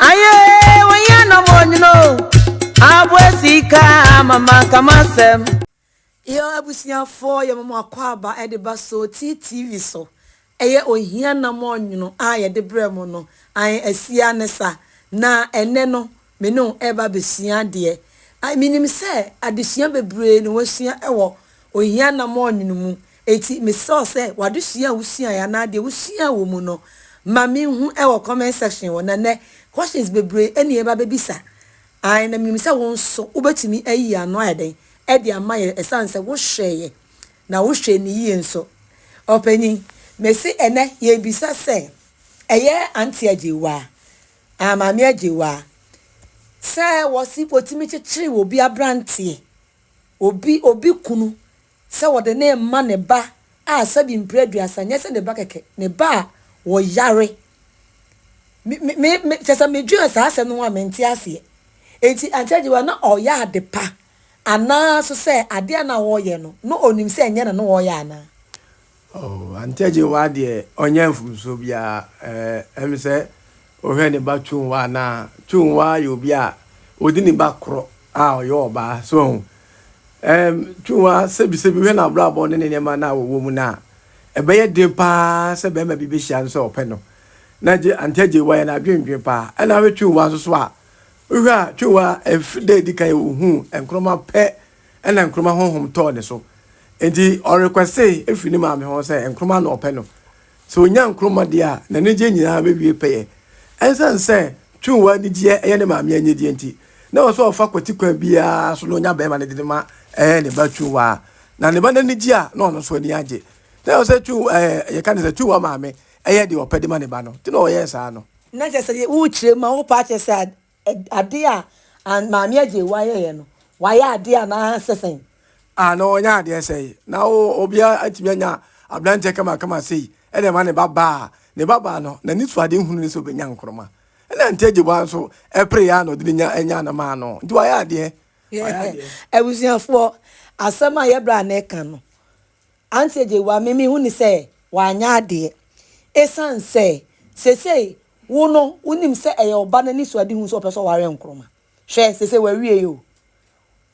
Aye, when you no more, you know. Abwesika, mama, come on, Sam. Yo, abusuafoɔ yɛ mama akɔ aba ɛde ba so TTV so ɛyɛ ohia nam ɔnwono a yɛde brɛ mo no ae asia ne sa na ɛnɛ no Me ne wo reba abɛsua adeɛ. I menim sɛ adesua bebree na woasua wɔ ohia anammɔn nwunu mu, enti mesrɛ wo sɛ w'adesua a wosuaeɛ anaa deɛ wosuaa wɔ mu no ma me nhu wɔ comment section hɔ, na nnɛ questions bebree na yɛreba abɛbisa. I na menim sɛ wo nso wobɛtumi ayi ano ayɛ dɛn de ama yɛn ɛsiane sɛ wohwɛeɛ na wohwɛɛ no yie nso. Ɔpanyin, mese ɛnnɛ yɛrebisa sɛ ɛyɛ Auntie Agyewaa Ah Maame Agyewaa, sɛ wɔse wɔtumi kyekyere obi abranteɛ, obi obi kunu sɛ wɔde no rema ne ba a sɛbi mprɛ aduasa, nyɛ sɛ ne ba kɛkɛ, ne ba a ɔyare. Me me me me kyɛ sɛ medwen saa asɛm no ho a mente aseɛ. Enti Auntie Agyewa na ɔyɛ ade pa anaa so sɛ adeɛ a na ɔyɛ no na ɔnim sɛ ɛnyɛ no na ɔyɛ anaa? Oh, ankyɛ Jehovah deɛ ɔnyɛ mfomsoɔ biara. Eh, ɛm sɛ ɔhwɛ ne ba Chungwa anaa? Chungwa yɛ obi a ɔdi ne ba korɔ a ɔyɛ ɔbaa, so ahu. Ɛm, Chungwa sɛbisɛbi hwɛ n'abrabɔ ne ne nneɛma no a ɔwɔ mu no a, ɛbɛyɛ den paa sɛ barima bi bɛhyia no sɛ ɔpɛ no. Na Je, ankyɛ Jehovah yɛ n'adwendwen paa. Ɛna hwɛ Chungwa nso so a, wohwɛ a, Chungwa, ɛf, da a ɛdi kan yɛ ɔhuu nkorɔma pɛ ɛna Nkrumah honhom tɔɔ ne so. Enti ɔ requeste firi ne maame hɔ sɛ Nkrumah na ɔpɛ no. Sɛ ɔnya Nkrumah deɛ a, n'anigyeɛ nyinaa bɛwie pɛyɛ. Ɛnsiane sɛ Twumwa anigyeɛ yɛ ne maame anigyeɛ nti, na ɛwɔ sɛ ɔfa kwati kwan biara so na ɔnya barima no de no ma ne ba Twumwa. Na ne ba no ani gye a, na ɔno nso ani agye. Na ɛwɔ sɛ Twum ɛɛ yɛka ne sɛ Twumwa maame yɛ deɛ ɔpɛ de ma ne ba no. Nti na ɔyɛɛ saa no. Na kyerɛ sɛ wokyerɛ mu a, wopɛ akyerɛ sɛ Ade a Maame Agyei ayɛeɛ no, wayɛ adeɛ anaa sɛ sɛn? Ah na ɔnyɛ adeɛ sɛn? Na obiara atumi anya aberanteɛ kamakama sei de ama ne babaa. Ne babaa no, n'anisoadehunu ne sɛ ɔbɛnya nkorɔma. Ɛnna Auntie Agyebua nso pereeɛ ara na ɔde no nya nyaa no maa no. Nti wayɛ adeɛ. Wayɛ adeɛ. Abusuafoɔ, asɛm a yɛn bra no reka no, Antsɛ dze wa me mehu no sɛ ɔannyɛ adeɛ, esiane sɛ sesei wo no wonim sɛ ɛyɛ wo ba no anisoadehu sɛ ɔpɛ sɛ ɔware Nkrumah. Hwɛ, sesei wawie o.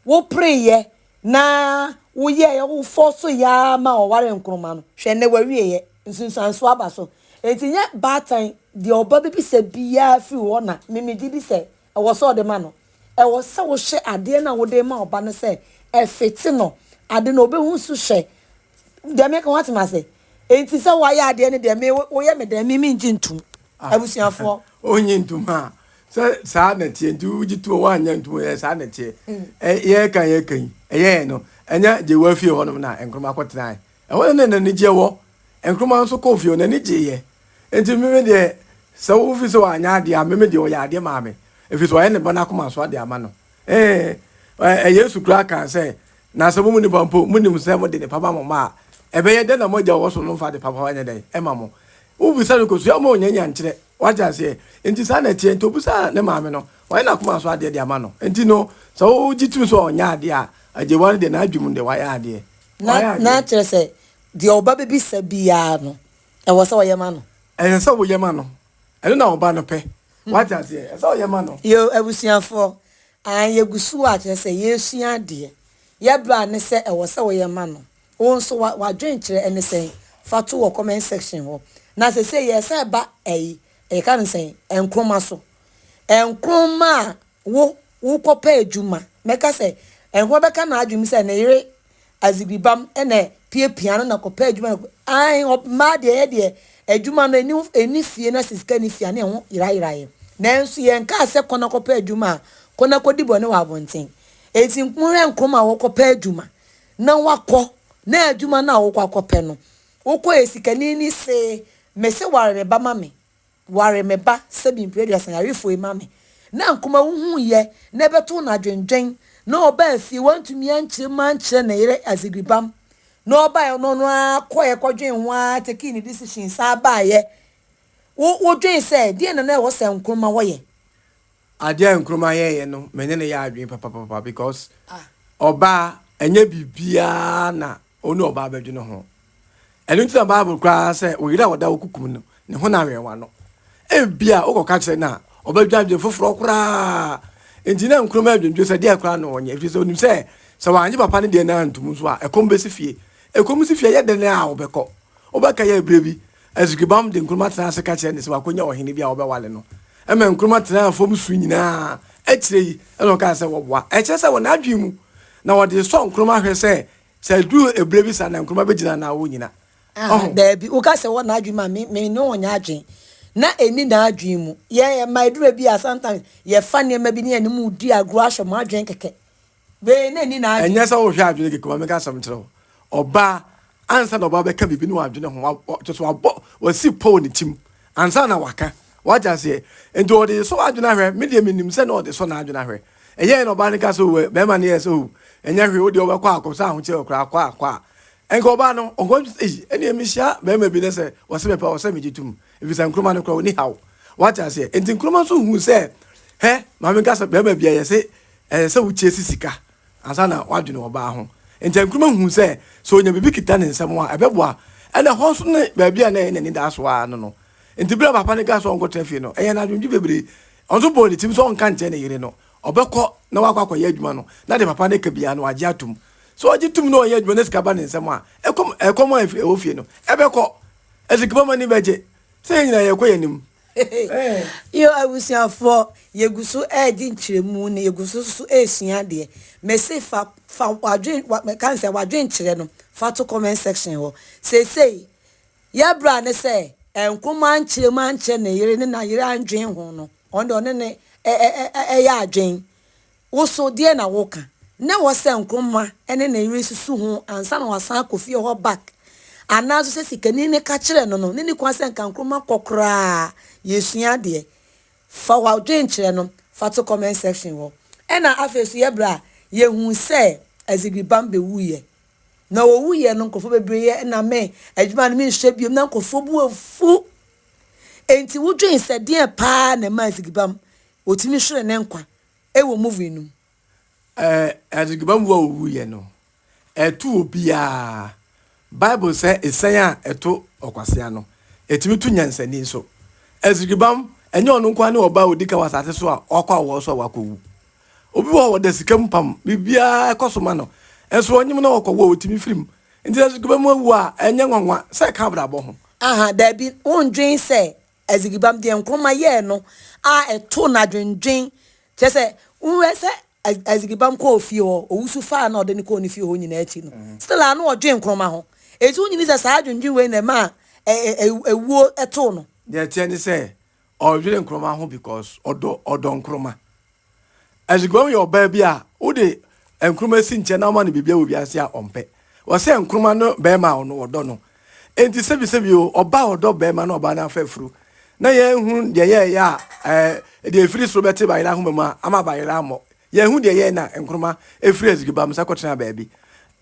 Wo pereeɛ na wo yɛeɛ, wo fɔɔsoeɛ ara ma ɔwaree Nkrumah no, hwɛ nnɛ wawieɛ, nsunsuansoɔ aba so. Enti nyɛ baatan, deɛ ɔba bɛbisa biara firi hɔ na me megye di sɛ Ɛwɔ sɛ ɔde ma no. Ɛwɔ sɛ wohwɛ adeɛ no a wode rema wo ba no sɛ ɛfete no, ade no ɔbɛhu so hwɛ. Deɛ mereka, woate me ase? Enti sɛ woayɛ adeɛ no deɛ, me, woyɛ me dɛn? Me, mengye ntom. Ah, Abusuafoɔ. Wonnye ntom, ha? Sɛ saa na ɛteɛ nti wogye to a woanyɛ ntom, ɛyɛ saa na ɛteɛ. Ɛ, yɛreka a yɛreka yi, ɛyɛɛ no, ɛnyɛ Jewa fie hɔnom na Nkrumah kɔtenae. Ɛhɔ na na n'anigyeɛ wɔ. Nkrumah nso kɔɔ fie hɔ, n'ani gyeeɛ. Enti me me deɛ, sɛ wo fi sɛ wanyɛ adeɛ a, me me deɛ ɔyɛɛ adeɛ maa me, ɛfiri sɛ wayɛ ne Ba no akoma so ade ama no. Ee, ɛ, Yesu koraa kaa sɛ, Na sɛ mo mu nipa mpo monim sɛ mode nnepa ma mo mma a, ɛbɛyɛ dɛn na mo Agya a ɔwɔ soro no mfa adepa papa nyɛ dɛn mma mo? Wobisa no kosua ma ɔnya nyankyerɛ. Wate aseɛ? Enti saa na ɛteɛ. Enti ɔbisaa ne maame no, wayɛ n'akoma so adeɛ de ama no. Enti no, sɛ wogye tom sɛ ɔnyɛɛ adeɛ a, agyewa no deɛ, n'adwene mu no deɛ, wayɛ adeɛ. Na na kyerɛ sɛ, deɛ ɔba bɛbisa biara no, ɛwɔ sɛ ɔyɛ ma no. Ɛsɛ sɛ woyɛ ma no. Ɛno na ɔba no pɛ. Wate aseɛ? Ɛsɛ sɛ ɔyɛ ma no. Yo, abusuafoɔ, ae, yɛgu so a, kyerɛ sɛ, yɛresua adeɛ. Yɛ bra ne sɛ ɛwɔ sɛ woyɛ ma no. Wo nso, wa, w'adwenkyerɛ ɛne sɛn? Fa to wɔ comment section hɔ. Na seesei yɛresan ba, ae, yɛka no sɛn? Nkroma so. Nkroma a Wo, worekɔpɛ adwuma. Mɛka sɛ, ɛhɔ bɛka n'adwene mu sɛ ne yere Azigibam na ɛpiapia no na kɔpɛ adwuma na Ae, mmaa deɛ yɛ deɛ, adwuma no ɛni, ɛni fie na sɛ sika nni fie a ne ɛho yerayera yɛn. Nanso yɛnkaa sɛ kɔ na kɔpɛ adwuma a, kɔ na kɔdi bɔne wɔ abɔnten. Enti monhwɛ Nkrumah a ɔrekɔpɛ adwuma na wakɔ, na adwuma no a worekɔ akɔpɛ no, wokɔɛ sikani ni see, mese ware me ba ma me. Ware me ba sɛbi mprɛduasa yarefo yi ma me na nkoma wohuuyɛ na ɛbɛtoo no adwendwen na ɔbaa fie wantumi ankyerɛ mu ankyerɛ ne yere Azegribam na ɔbaeɛ no ɔno ara kɔeɛ kɔdwen ho ara tekii ne decision saa baeɛ wo wodwen sɛ deɛn na na ɛwɔ sɛ Nkrumah hɔ yɛ Adeɛ a Nkrumah yɛeɛ no, me ne no yɛ adwene papapapa because ɔbaa ɛnyɛ biribiara na ɔne ɔbaa bɛdwene ho. Ɛno nti na Bible koraa sɛ oyere a wɔda wo kukum no, ne ho na awɛn wano. Ebi a wokɔka kyerɛ no a, ɔbɛdwa adwene foforɔ koraa. Nti na Nkrumah adwendwe sɛ deɛ koraa na ɔnyɛ, ɛfiri sɛ onim sɛ sɛ wanyɛ papa no deɛ no antom nso a, ɛkɔm bɛsi fie. Ɛkɔm si fie yɛ dɛn a wobɛkɔ? Wobɛka yɛ berɛ bi. Azrikbam de Nkrumah tenaa ase ka kyerɛɛ no sɛ wakonya ɔhene bi a ɔbɛwale no. Ɛma Nkrumah tenaa fam su nyinaa. Akyire yi na ɔkaa sɛ wɔboa. Ɛkyerɛ sɛ wɔ n'adwene mu na wɔde resɔ Nkrumah hwɛ sɛ sɛ ɛduru ɛberɛ bi saa na Nkrumah bɛgyina anaa ɔrennyina. Ah, daabi, woka sɛ wɔ n'adwene mu a, me, me ne wo nyɛ adwene. Na ɛnni n'adwene mu. Yɛn, ɛma ɛduru baabi a sometimes yɛfa nneɛma bi ne yɛne mo redi agorɔ ahyɛ mo adwene kɛkɛ. Wei na ɛni n'adwene. Ɛnyɛ sɛ wohwɛ adwene keke ma meka asɛm kyerɛ wo. Ɔbaa ansa na ɔbaa bɛka biribi ne wadwene ho kyɛ so wabɔ wasi pɔ wɔ ne tim ansa na waka. Wate aseɛ? Nti ɔde sɔ w'adwene ahwɛ. Me deɛ menim sɛ na ɔde sɔ n'adwene ahwɛ. Ɛyɛɛ na ɔbaa no ka sɛ o bɛrima no yɛɛ sɛ o ɛnyɛ hwee wodeɛ wobɛkɔ akɔ sɛ ahokyerɛ koraa kɔ a kɔ a. Ɛnka ɔbaa no ɔnkɔ ei ɛneɛ mehyia bɛrima bi ne sɛ ɔse mepɛ ɔsɛ megye tom efisɛ nkroma no koraa ɔni haw. Wate aseɛ? Nti nkroma nso huu sɛ hɛ ma menka sɛ bɛrima bia yɛse Ɛsɛ sɛ wokyi si sika ansa na woadwene ɔbaa ho. Enti Nkrumah huu sɛ, sɛ onya biribi kita ne nsam a, ɛbɛboa. Ɛnna ɛhɔ nso ne baabi a na ɛyɛ n'anidaso ara no no. Enti bere a papa no kaa sɛ ɔnkɔtra fie no, ɛyɛɛ no adwemdwe bebree. Ɔno nso bɔɔ ne tirim sɛ ɔnka nkyerɛ ne yere no. Ɔbɛkɔ na wakɔ akɔyɛ adwuma no, na deɛ papa no ka biara no, wagye atom. Sɛ ɔgye tom na ɔyɛ adwuma na sika ba ne nsam a, ɛkɔm a ɛwɔ fie no, ɛbɛkɔ. Asikapamani bɛgye. Sɛ yɛn nyinaa yɛrekɔ yɛn anim Yo abusuafoɔ, yɛgu so redi nkyerɛmu na yɛgu so nso resua adeɛ. Mese fa fa wadwen wa mɛka sɛ wadwenkyerɛ no fa to comment section hɔ. Seesei yɛ bra ne sɛ nkoma nkyerɛmu ankyerɛ ne yere ne na yere andwen ho no ɔno deɛ ɔne ne ɛyɛ adwen Wo so, deɛ na woka? Ná ɛwɔ sɛ Nkrumah ne ne yere susu ho ansa na wɔasan akɔ fie hɔ back, anaa nso sɛ sikani no ka kyerɛɛ no no, nenni kwan sɛ anka Nkrumah kɔ koraa. Yɛresua adeɛ. Fa w'adwenkyerɛ no fa to comment section hɔ. Ɛna afei nso yɛ berɛ a yɛhuu sɛ Azigri Bam bɛwuiɛ. Na ɔwuiɛ no nkorɔfoɔ bebree yɛ na me adwuma no menhwɛ biom, na nkorɔfoɔ bo afu. Enti wodwen sɛ deɛn paa na ɛmaa Azigri Bam ɔtumi hweree ne nkwa Ɛwɔ movie no mu. Ɛɛ Adegiba wu a owu yɛ no ɛto obiaa bible sɛ esɛn a ɛto ɔkwasea no ɛtumi to nyansani nso Azigibam ɛnyɛ ɔno nkoa ne ɔbaa a ɔdi kan wɔ asase so a ɔkɔ awɔ so a wakɔ wu obi wɔ hɔ wɔda sika mu pam biribiaa ɛkɔ so ma no nso ɔnyem na ɔkɔ wɔ ɔtumi firim nti Azigibam awu a ɛnyɛ nwanwa sɛ ɛka abrabɔ ho. Aha daabi wondwen sɛ Adzibibam, deɛ Nkrumah yɛɛ no a ɛtoo no adwendwen, kyerɛ sɛ, wohwɛ sɛ Adzibibam kɔɔ fie hɔ, Owusu faa no a ɔde no kɔɔ ne fie hɔ nyinaa akyi no, still ara na ɔdwen Nkrumah ho. Enti wonnye nni sɛ saa adwendwen wei na ɛmaa awuo too no? Deɛ ɛteɛ ne sɛ, ɔdwene Nkrumah ho because ɔdɔ Nkrumah. Azuguam yɛ ɔbaa bi a wode nkruma si nkyɛn na woma no biribiara wɔ wiase a ɔmpɛ. Wɔsɛ nkruma no barima a ɔno ɔdɔ no. Enti sɛbisɛbi o, ɔbaa a ɔdɔ barima na ɔbaa no afa afuru. Na yɛanhu deɛ yɛɛyɛ a ɛɛ deɛ ɛfiri soro bɛte bayera ahoma mu a ama bayera ammɔ. Yɛanhu deɛ yɛɛyɛ na nkruma firi azuguam sa kɔtenaa baabi.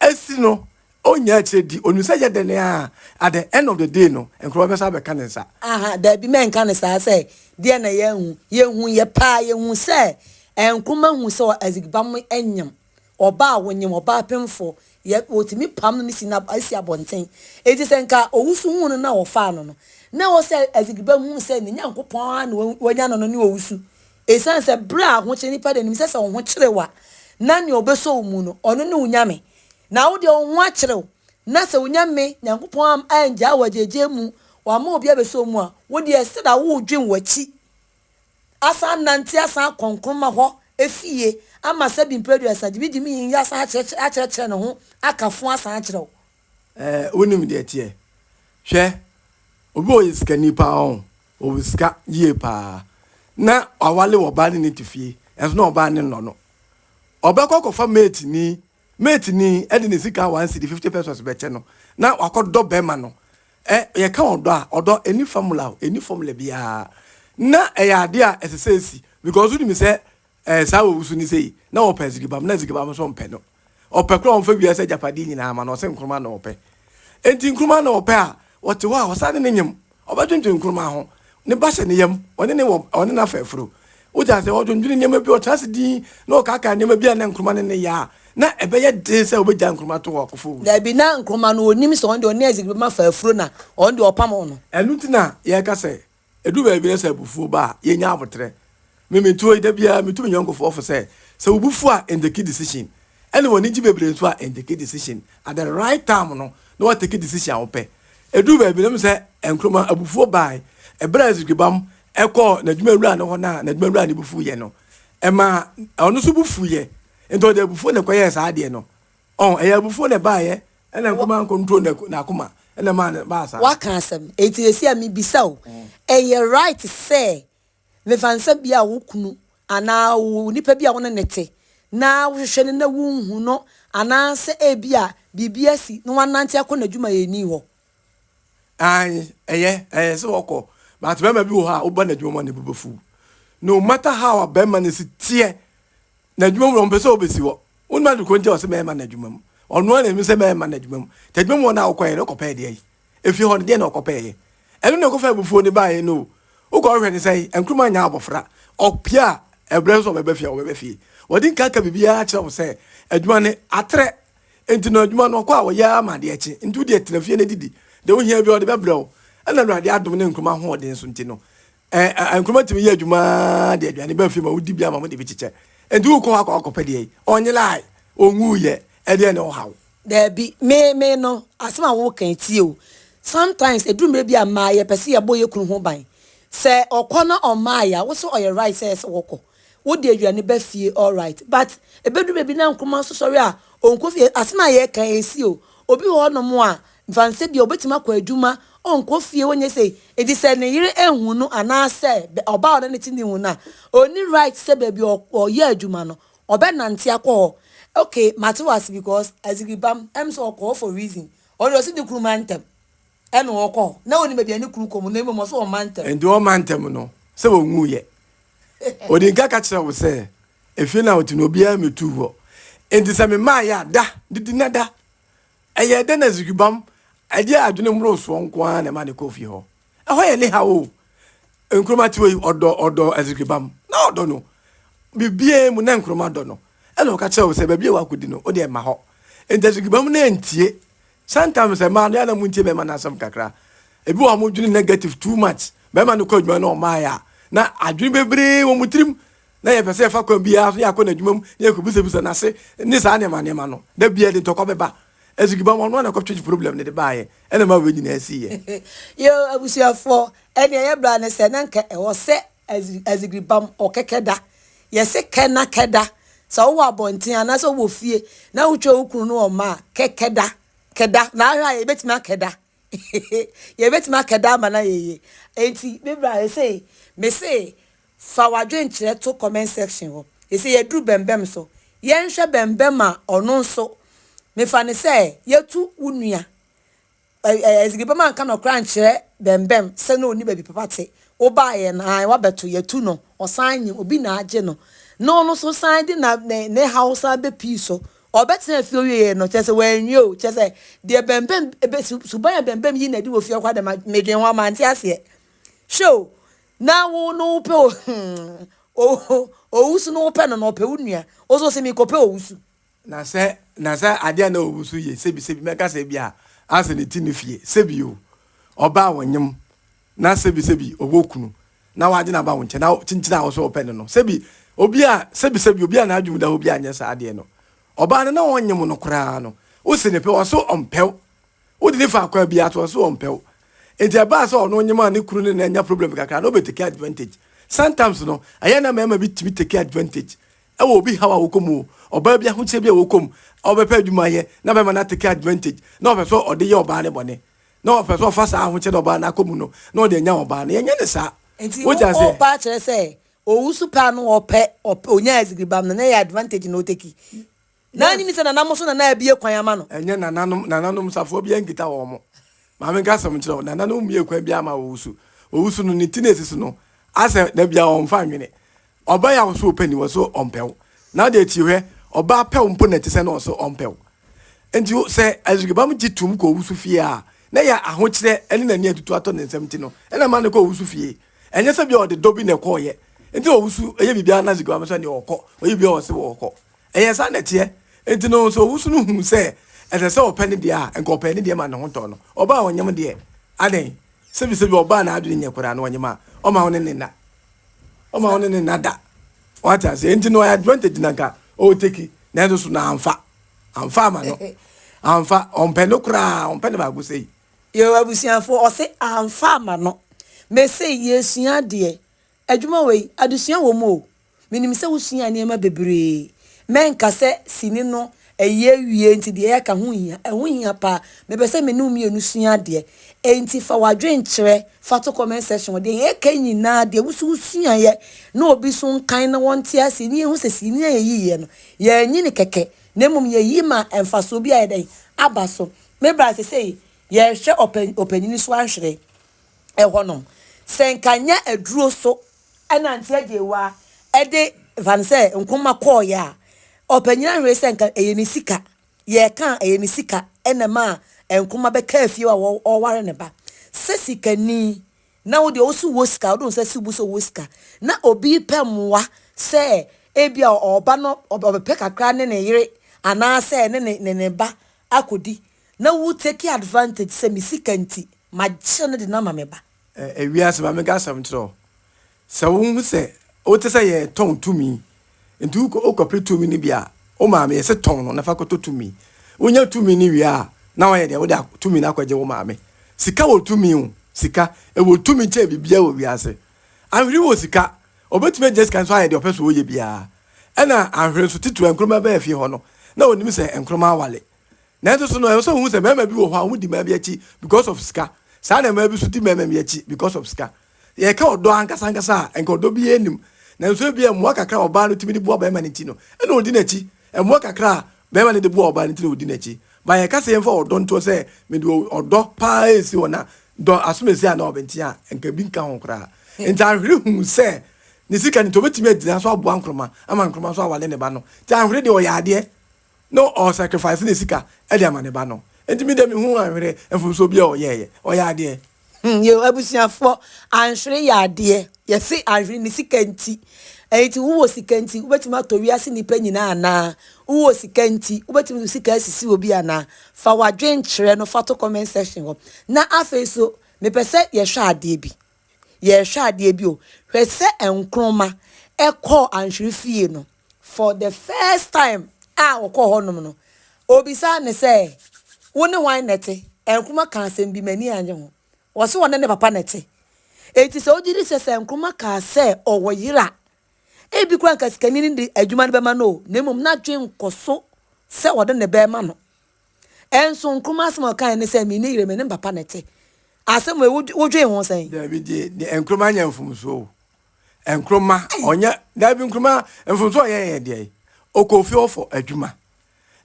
Asi no Ɔnnya akyire di. Ɔnim sɛ ɛyɛ dɛn ara a, at the end of the day no, nkurɔfoɔ bɛsan abɛka ne nsa. Aha, daabi, mɛnka no saa sɛ, deɛn na yɛahu? Yɛhuiɛ paa, yɛhuu sɛ ɛyɛ nkroma hu sɛ Azigbam nyem ɔbaa a ɔnyem ɔbaa pemfoɔ. Yɛ, wɔtumi pam no ne si no asi abɔnten. Enti sɛ nka Owusu huu no na ɔfaa no no, na ɛwɔ sɛ Azigbam hunu sɛ ne Nyankopɔn ara na wanya no no ne Owusu. Ɛsiane sɛ berɛ a ahokyere, nnipa deɛ nim sɛ sɛ wo ho kyere wo a, na deɛ ɔbɛsɔ wo mu no, ɔno ne wo Nyame. Na wo deɛ wo ho akyere wo, na sɛ wonya me Nyankopɔn am angyaa wo agyaagyee mu, wamma obi abɛsɔ wo mu a, wo deɛ ɛsɛ da wo redwen w'akyi asan anante asan akɔ Nkrumah hɔ fie ama sɛbi mprɛduasa, gyibi gyimi yi asan akyerɛkyerɛ akyerɛkyerɛ ne ho aka fo asan akyerɛ wo. Ɛɛ wonim deɛ ɛteɛ? Hwɛ, obi a ɔyɛ sikani pa ara o, ɔwɔ sika yie pa ara, na wawale ɔbaa ne ne te fie, nanso na ɔbaa no nnɔ no, ɔbɛkɔ akɔfa mate ni Mate ni de ne sika one cedi, fifty pesos, bɛkyɛ no na wakɔ dɔ bɛrima no. Ɛ, yɛka ɔdɔ a, ɔdɔ ɛnni famula o, ɛnni fɔmula biara. Na ɛyɛ adeɛ a ɛsɛ sɛ ɛsi, because wonim sɛ ɛ, saa a wawusu no sei, na ɔpɛ azigibam, na azigibam nso mpɛ no. Ɔpɛ koraa a ɔmfa wiase agyapadeɛ nyinaa ma no, ɔse nkruma na ɔpɛ. Enti nkruma na ɔpɛ a, ɔte hɔ a, ɔsan ne no nyem. Ɔbɛdwendwene nkruma ho, ne basa ne yam, ɔne ne wɔ, ɔne n'afɛɛforo. Wote ase? Ɔdwendwene nneɛma bi, ɔtena ase dinn na ɔkaakae nneɛma bi a na nkruma ne no yɛ a na ɛbɛyɛ den sɛ obegyae nkruma to wɔ akofo wu so. Dabi, na nkruma no, onim sɛ ɔno deɛ ɔne Isaac bɛma fafuro na ɔno deɛ ɔpam ɔno. Ɛno nti na yɛka sɛ, edu baabi na sɛ abufuo ba a, yɛnya aboterɛ. Me me tuo yi da biara me tu me yɔnko foɔ fo sɛ sɛ wo bo fu a enteki decision ɛna w'ani gye bebree nso a enteki decision at the right time no na wateki decision a wopɛ ɛduru baabi no mesɛ Nkrumah abufuo baae ɛberɛ a Zigibam ɛkɔɔ n'adwuma wura no hɔ no a n'adwuma wura no bo fuiɛ no ɛmaa ɔno nso bo fuiɛ nti ɔde abufuo na ɛkɔyɛɛ saa adeɛ no ɔho ɛyɛ abufuo na ɛbaaeɛ ɛna Nkrumah ankontrol n'akoma ɛna ɛmaa no baa saa. Waka asɛm. Enti seesei a mebisa o, ɛyɛ right sɛ Mfansa bi a wo kunu anaa onipa bi a wo ne no te na wohwehwɛ no na wunhu no anaasɛ ebia biribi asi na wanante akɔ n'adwumayɛni hɔ. Aane, ɛyɛ, ɛyɛ sɛ ɔkɔ, but bɛrima bi wɔ hɔ a woba n'adwuma mu a ne bo bɛfuw. No matter how a bɛrima no si teɛ N'adwuma mu no ɔmpɛ sɛ ɔbɛsi hɔ. Wonim ade korɔ nti a ɔse mɛmma no adwuma mu? Ɔno ara na nim sɛ mɛmma no adwuma mu. Nti adwuma mu hɔ no a wokɔeɛ no wokɔpɛɛ deɛ ayi? Efie hɔ no deɛn na wokɔpɛeɛ? Ɛno na ɛkɔfa abufuo no baeɛ no o. Wokɔ hɔ hwɛ no sɛn? Nkrumah nnya abɔfra. Ɔpɛ a ɛberɛ no sɛ ɔbɛba fie a ɔbɛba fie. Wɔde nka ka biribiara kyerɛ wo sɛ adwuma no atrɛ. Nti no adwuma no ɔkɔ a ɔyɛ ara ma adeɛ kye. Nti wodeɛ tena fie na didi. Deɛ wohia biara ɔde bɛbrɛ wo. Ɛna Awurade adom ne Nkrumah ahoɔden so nti no Ɛɛ, nkuruma tumi yɛ adwuma ara de aduane ba fie ma wodi bi ama wɔde bi kyekyɛ. Enti wokɔ hɔ akɔ akɔpɛ deɛ yi. Ɔnye lie, ɔnwuiɛ, ɛdeɛn na ɔhaw? Daabi, me, me no, asɛm a woreka yi, tie o, sometimes ɛduru mmerɛ bi a mmaa yɛpɛ sɛ yɛbɔ yɛn kunu ho ban. Sɛ ɔkɔ na ɔmmaeɛ a, wo sɛ ɔyɛ right sɛ ɛyɛ sɛ wɔkɔ? Wode aduane ba fie, alright, but ɛbɛduru baabi na nkuruma nso sɔre a, ɔnkɔ fie. Asɛm a yɛreka yi, ɛsi o. Obi wɔ hɔnom a, Mfansɛ bia ɔbɛtumi akɔ adwuma, ɔnkɔ fie, ɔnyɛ sei, enti sɛ ne yere anhu no anaasɛ ɔbaa a ɔne no te no hu no a, ɔnni right sɛ baabi a ɔyɛ adwuma no ɔbɛnante akɔ hɔ. Okay, mate wo ase because Azigibam, ɛm sɛ ɔkɔ hɔ for reason. Ɔno deɛ ɔse ne kunu ma ntɛm ɛna ɔkɔ hɔ, na ɔnim baabi a ne kunu kɔ mu, na mmom ɔse ɔmma ntɛm. Enti ɔmma ntɛm no, sɛ ɔnwuiɛ. Ɔdi nka ka kyerɛ wo sɛ efie no a ɔte no obiara mmɛtuu hɔ, enti sɛ memaeɛ a da, didi na da. Ɛyɛɛ dɛ na Zigibam ɛdeɛ adwene mmorosoɔ nko ara na ɛma no kɔɔ fie hɔ. Ɛhɔ yɛ ne haw o. Nkrumah te wei ɔdɔ ɔdɔ Zigibam na ɔdɔ no biribiara mu na Nkrumah dɔ no ɛna ɔka kyerɛ wo sɛ baabi a wakɔdi no wo deɛ mma hɔ. Nti Azigibam no antie. Sometimes mmaa no yɛ a na montie bɛrima no asɛm kakra. Ebi wɔ hɔ a wɔdwene negative too much. Bɛrima no kɔ adwuma na ɔmmaeɛ a na adwene bebree wɔ wɔn tirim na yɛpɛ sɛ yɛfa kwan biara so na yɛakɔ n'adwuma mu na yɛkɔbisabisa no ase ne saa nneɛma nneɛma no. Da biara ɛde ntɔkwa bɛba. Azugibammɔ no ara na ɛkɔtwetwe problem no de baeɛ na ɛmaa wei nyinaa siiɛ. Yɛn abusuafoɔ, ɛnneɛ ɛyɛ bra ne sɛ na nka ɛwɔ sɛ azigibam ɔkɛkɛ da. Yɛse kɛ na kɛ da. Sɛ wowɔ abɔnten anaasɛ wowɔ fie na wotwa wo kunu ne wɔn mma a, kɛ kɛ da. Kɛ da. Na ahwɛ a yɛbɛtumi akɛ da. Yɛbɛtumi aka daa ma no ayɛ yie. Enti me bra ɛsei me se fa w'adwenkyerɛ to comment section hɔ. Ɛsei yɛaduru bɛmbɛm so. Yɛnhwɛ bɛmbɛm a ɔno nso mefa no sɛ yɛatu wo nua. Ɛzigi bɛm anka nɔkorɛ ankyerɛ bɛmbɛm sɛ na ɔnni baabi papa te. Wobaeɛ no ae wabɛto yɛatu no ɔsan nyim obi na agye no na ɔno nso san de ne haw san bɛpii so Ɔbɛtenaa fie owiei no, kyerɛ sɛ wanwie o, kyerɛ sɛ deɛ bɛmbɛm, ebe, su, suban a bɛmbɛm yi na ɛde wɔ fie kɔ adɛma, medwen ho a mante aseɛ. Hwɛ o, na wo no wopɛ o, hmm, o, o, owusu no wopɛ no na ɔpɛ wo nua, wo nso wose mekɔpɛ owusu. Na sɛ, na sɛ adeɛ a na owusu yɛ, sebi, sebi, mɛka sɛ ebia ansa na ɛti no fie, sebi o, ɔbaa wo nyem, na sebisebi ɔwɔ kunu na wagye no aba wo nkyɛn na kyinkyin a wo nso wɔpɛ no no sebi obi a sebisebi obi a n'adwene mu da hɔ bi anyɛ saa adeɛ no ɔbaa no na ɔnye mo no koraa no wosi ne pɛ ɔso ɔmpɛw wode ne fa kwa biara to ɔso ɔmpɛw nti ɛbaa sɛ ɔno ɔnye maa ne kunu ne na anya problem kakra na ɔbɛtake advantage sometimes no ɛyɛ na mmarima bi tumi take advantage ɛwɔ obi haw a wɔkɔ mu o ɔbaa bi ahokyerɛ bi a wɔkɔ mu ɔbɛpɛ adwuma yɛ na bɛma no atake advantage na ɔpɛ sɛ ɔde yɛ ɔbaa ne bɔne na ɔpɛ sɛ ɔfa saa ahokyere a ɔbaa no akɔ mu no na ɔde anya ɔbaa no. Yɛnyɛ no saa. Nti Wote wo aseɛ? paa kyerɛ sɛ owusu paa no ɔpɛ ɔpɛ onyaa azigiribam no na ɛyɛ advantage na ɔteki na Yes. anyini sɛ nana mo so na na abie kwan ama no. Ɛnyɛ nananom nananom safoa biara nkita wɔn mo. Maame nka asɛm nkyerɛ wo. Nananom mmiee kwan biara ma owusu. Owusu no ne ti na ɛsi so no asɛ da biara ɔmfa nnwene. Ɔbaa yi a ɔso ɔpɛ ni ɔso ɔmpɛ wo na ɔde akyi hwɛ ɔbaa pɛ wo mpo na ɛte sɛ na ɔso ɔmpɛ wo nti sɛ Azrikibam gye tum kɔ owusu fie a na ɛyɛ ahokyerɛ ne n'ani atutu atɔ ne nsam nti no ɛna ɛma no kɔ owusu fie ɛnyɛ sɛ bia ɔde dɔ bi na ɛkɔɔyɛ nti na owusu ɛyɛ biribiara na Azrikibam sɛ nea ɔkɔ ɔyɛ biribiara ɔse wɔkɔ ɛyɛ saa na ɛteɛ nti no sɛ owusu no hu sɛ ɛsɛ sɛ ɔpɛ ne deɛ a nka ɔpɛ ne deɛ ma ne ho tɔ no ɔbaa ɔnyem deɛ adɛn sɛbisɛbi ɔbaa n'adwene nyɛ koraa no ɔnyem a ɔma wo ne ne nna Ɔma wo ne ne nna da. Wate ase? Enti no ɔyɛ advantage na nka ɔreteki na ɛno so na amfa. Amfa ama no. Amfa. Ɔmpɛ no koraa. Ɔmpɛ no baako sei. Yo abusuafoɔ ɔse amfa ama no. Mese yɛresua adeɛ. Adwuma wei adesua wɔ mu o. Menim sɛ wosua nneɛma bebree. Mɛnka sɛ sini no Ayi awie nti deɛ yɛaka ho hia? Ɛho hia paa. Mepɛ sɛ me ne wo mmienu sua adeɛ. Enti fa w'adwene kyerɛ fa to comment section hɔ. Deɛ yɛka yi nyinaa deɛ wo nso wo suaeɛ na obi nso nkan na wɔnte aseɛ na yɛhu sɛ sii no a yɛyiiɛ no yɛanyi no kɛkɛ na mmom yɛyi maa mfasoɔ bi ayɛ dɛn aba so. Me bra sesei yɛrehwɛ ɔpɛ ɔpanyini so ahwere ɛhɔnom. Sɛ nka nyɛ aduro so Ɛna nti Agyewa de fa no sɛ nkomma kɔɔeɛ a, ɔpanyin ahwere sɛ nka ɛyɛ ne sika. Yɛreka a, ɛyɛ ne sika na ɛmaa nkomma bɛkaa fie hɔ a ɔreware ne ba. Sɛ sikani na wo deɛ wo so wɔ sika, wode wo nsa si wo bo sɛ wowɔ sika, na obi repɛ mmoa sɛ ebia ɔba no ɔbɛpɛ kakra ne ne yere anaasɛ ne ne ne ne ba akɔdi, na wo take advantage sɛ me sika nti, magye no de no ama me ba. Ɛ Wiase Maame Ga Asɛm Kyerɛw Sɛ wuhu sɛ wote sɛ yɛretɔn tumi, enti wokɔ wokɔpere tumi no bi a, wo maame, yɛse tɔn no na fa kɔtɔ tumi. Wunya tumi no wie a, na woayɛ dɛn? Wode tumi no akɔgye wo maame. Sika wɔ tumi o, sika. Ɛwɔ tumi kyɛn biribiara wɔ wiase. Anhwere wɔ sika, obetumi agyina sika no so ayɛ deɛ ɔpɛ sɛ ɔyɛ biara. Ɛna anhwere nso, titiriw nkruma bɛɛ fie hɔ no, na onim sɛ nkruma awale. Nanso so no ɛwɔ sɛ wohu sɛ mmarima bi wɔ hɔ a wɔdi mmaa bi akyi because of sika? Saa na mmaa bi nso di mmarima bi akyi because of sika. Sɛ yɛka ɔdɔ ankasa ankasa a, anka ɔdɔ biara nnim. Nanso ebia mmoa kakra a ɔbaa no tumi de boa barima no nti no, ɛnna odi n'akyi. Mmoa kakra a barima no de boa ɔbaa no nti na odi n'akyi. Ma yɛnka sɛ yɛmfa ɔdɔ ntoɔ sɛ mede ɔdɔ pa ara resi hɔ na dɔ asomasi a na ɔbɛnteɛ a, anka ebi nka ho koraa. Enti Ahwere hu sɛ ne sika no nti, obetumi agyina so aboa Nkrumah ama Nkrumah nso aware ne ba no. Enti Ahwere deɛ ɔyɛ adeɛ. No ɔ sacrifice ne sika de ama ne ba no nti me deɛ me hu anhwere mfomsoɔ biaa ɔyɛɛyɛ ɔyɛ adeɛ. Hmm yo abusuafoɔ anhwere yɛ adeɛ yɛse anhwere ne sika nti enti wo wɔ sika nti wobɛtumi atɔ wiase nnipa nyinaa anaa wo wɔ sika nti wobɛtumi de wo sika asisi obi anaa fa wadwen kyerɛ no fa to comment section hɔ na afei so mepɛ sɛ yɛhwɛ adeɛ bi yɛhwɛ adeɛ bi o hwɛ sɛ nkroma ɛkɔɔ anhwere fie no. For the first time a ɔkɔɔ hɔnom no, obisaa no sɛ, Wo ne hwan na ɛte? Nkrumah kaa asɛm bi, m'ani annye ho. Ɔse ɔne ne papa na ɛte. Enti sɛ wogye di sɛ sɛ Nkrumah kaa sɛ ɔwɔ yere a, ebi koraa anka sikani no de adwuma no bɛma no o, na mmom n'adwene nkɔ so sɛ ɔde ne ba rema no. Ɛnso Nkrumah asɛm a ɔkaeɛ ne sɛ, Menni yere, me ne me papa na ɛte. Asɛm wei wodwen ho sɛn? Daabi, gye ne Nkrumah nyɛ mfomsoɔ o. nkruma ɔnyɛ daabi nkruma mfomso ɔyɛ yɛ deɛ ɔkɔ ofie ɔfɔ adwuma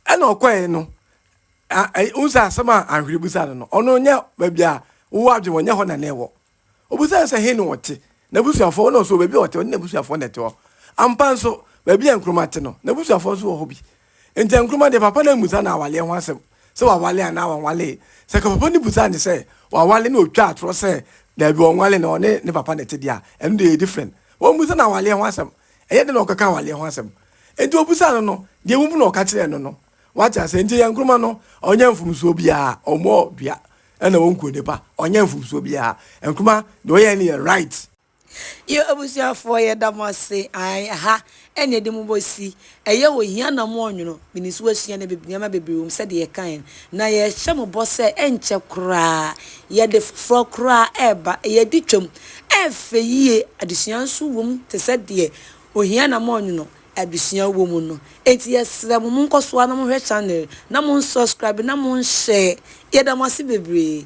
ɛna ɔkɔɛ no nsa asɛm a ahwere busa no no ɔno nyɛ baabi a wowɔ adwene wɔnyɛ hɔ na na ɛwɔ obusa sɛ he na ɔte n'abusuafoɔ na ɔso baabi a ɔte ɔne n'abusuafoɔ na ɛte hɔ ampa nso baabi a nkruma te no n'abusuafoɔ nso wɔ hɔ bi Ntɛ Nkrumah deɛ papa no ammusa no awaleɛ ho asɛm sɛ wawale anaa wanwalee. Sɛ ka papa no busaa no sɛ wawale na ɔtwaa atorɔ sɛ daabi ɔnwale na ɔne ne papa na ɛte deɛ a, ɛno deɛ ɛyɛ different. Wammusa no awaleɛ ho asɛm. Ɛyɛ dɛn na ɔkaka awaleɛ ho asɛm? Enti ɔbusaa no no, deɛ wahu na ɔka kyerɛɛ no no. Woate aseɛ? Enti ɛyɛ Nkrumah no, ɔnyɛ mfomsoɔ biara. Ɔmmɔɔ dua ɛna ɔnku onipa. Ɔnyɛ mfomsoɔ biara. Nkrumah deɛ ɔyɛeɛ no yɛ right. Yo abusuafoɔ yɛda mo ase ae ɛha ɛne yɛde mo bɔ si ɛyɛ wɔ hia na mo ɔnwono menim sɛ wasua nneɛma bebree wɔ mu sɛdeɛ yɛkaeɛ no na yɛhyɛ mo bɔ sɛ ɛnkyɛ koraa yɛde foforɔ koraa ɛreba ɛyɛ adi twam ɛfɛ yie adesua nso wɔ mu te sɛ deɛ ohia na mo ɔnwono adesua wɔ mu no enti yɛsrɛ mo monkɔ so ara na mohwɛ channel na monsubscribe na monhyɛ yɛda mo ase bebree